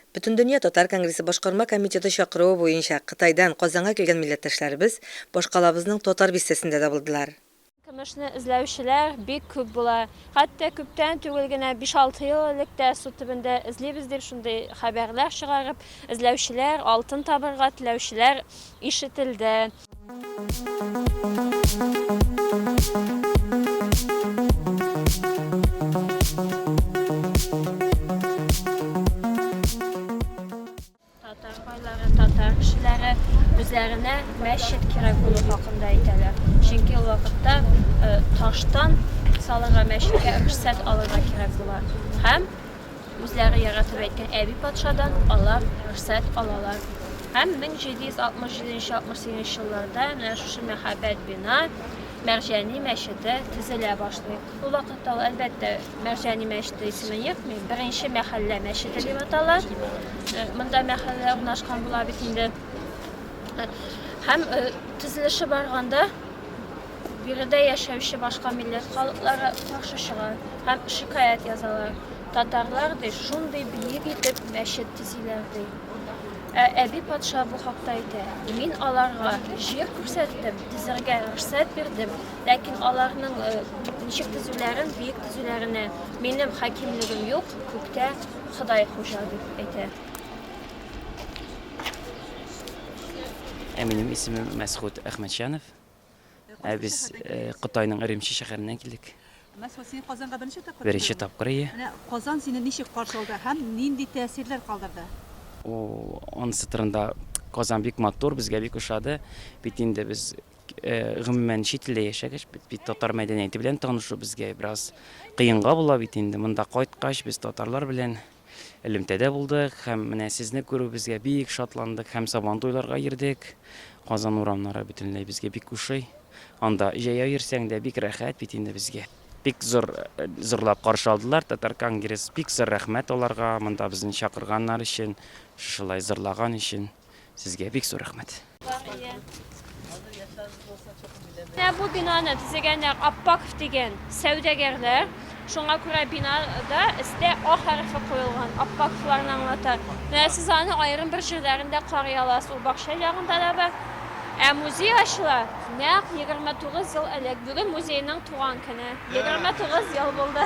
Бөтендөнья татар конгрессы башкарма комитеты чакыруы буенча Кытайдан Казанга килгән милләттәшләребез башкалабызның Татар бистәсендә дә булдылар. Көмешне эзләүчеләр бик күп була. Хәтта күптән түгел генә, биш-алты ел элек тә су төбендә эзлибез дип шундый хәбәрләр чыгарып, эзләүчеләр, алтын табарга теләүчеләр ишетелде. Татар байлары, татар кешеләре үзләренә мәчет кирәк булу хакында әйтәләр. Чөнки ул вакытта э, таштан салырга мәчеткә рөхсәт алырга кирәк була. Һәм үзләре яратып әйткән әби патшадан алар рөхсәт алалар. Һәм 1767-68 елларда менә шушы мәхәббәт бина Мәрҗани мәчете төзелә башлый. Бу вакытта ул, әлбәттә, Мәрҗани мәчете исеме йөртми, беренче мәхәллә мәчете дип атала. Э, монда мәхәллә урнашкан була бит инде. Э, һәм э, төзелеше барганда биредә яшәүче башка милләт халыклары каршы чыга һәм шикаять язалар. Татарлар ди, шундый биек итеп мәчет төзиләр ди. Ә әби патша бу хакта әйтә, Мин аларга җир күрсәттем, тезергә рөхсәт бирдем, ләкин аларның э, ничек тезүләрен, биек тезүләренә минем хакимлегем юк, күктә Ходай хуҗа дип әйтә. Ә минем исемем Мәсхүт Әхмәтҗанов. Ә без э, Кытайның Өремче шәһәреннән килдек. Мәсхүт, син Казанга беренче тапкыр Беренче килдеңме? тапкыр ие. Менә Казан сине ничек каршы алды һәм нинди тәэсирләр калдырды? О, анысы турында Казан бик матур, безгә бик ошады. Бит инде без э, гомумән чит илдә яшәгәч, бит, бит татар мәдәнияте белән танышу безгә бераз кыенга була бит инде. Монда кайткач, без татарлар белән Элемтәдә булдык һәм менә сезне күрүебезгә бик шатландык һәм Сабантуйларга йөрдек. Казан урамнары бөтенләй безгә бик ошый. Анда җәяү йөрсәң дә бик рәхәт бит инде безгә. Бик зур зурлап каршы алдылар Татаркангресс, бик зур рәхмәт аларга монда безне чакырганнар өчен, шушылай зурлаган өчен. Сезгә бик зур рәхмәт. Менә бу бинаны төзегәннәр Аппаков дигән сәүдәгәрләр. Шуңа күрә бинада өстә А хәрефе куелган. Аппаковларны аңлата. Менә сез аны аерым бер җирләрендә карый аласыз. Ул бакча ягында да бар. Ә музей ачыла нәкъ 29 ел элек. Бүген музейның туган көне. 29 ел булды.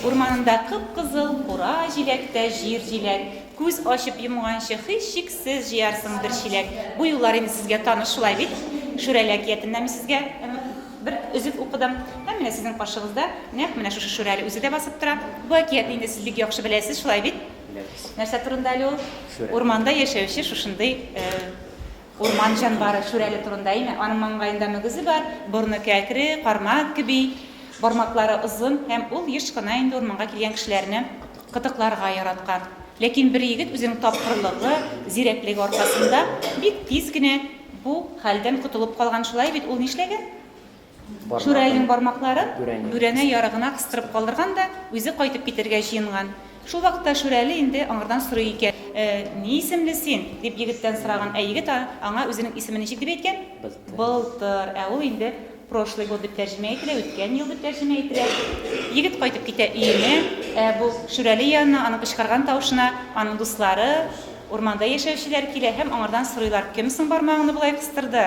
Урманында кып-кызыл кура җиләктә җир җиләк. Күз ачып йомганчы һичшиксез җыярсың бер чиләк. Бу юллар инде сезгә таныш шулай бит? Шүрәле әкиятеннән мин сезгә бер өзек укыдым. Һәм менә сезнең каршыгызда нәкъ менә шушы Шүрәле үзе дә басып тора. Бу әкиятне инде сез бик яхшы беләсез, шулай бит? Нәрсә турында әле ул? Урманда яшәүче шушындый Урман җанвары Шүрәле турында әйме? Аның маңгаенда мөгезе бар, борыны кәкре, кармак кеби, бармаклары озын һәм ул еш кына инде урманга килгән кешеләрне кытыкларга яраткан. Ләкин бер егет үзенең тапкырлыгы, зирәклеге аркасында бик тиз генә бу хәлдән котылып калган. Шулай бит, ул нишләгән? Шүрәленең бармакларын бүрәнә ярыгына кыстырып калдырган да үзе кайтып китәргә җыенган. Шул вакытта Шүрәле инде аңардан сорый икән. Ни исемле син? дип егеттән сораган. Ә егет аңа үзенең исемен ничек дип әйткән? Былтыр. Ә ул инде прошлый год дип тәрҗемә ителә, үткән ел дип тәрҗемә ителә. Егет кайтып китә өенә, ә бу Шүрәле янына аның кычкырган тавышына аның дуслары, урманда яшәүчеләр килә һәм аңардан сорыйлар, Кем соң бармагыңны болай кыстырды?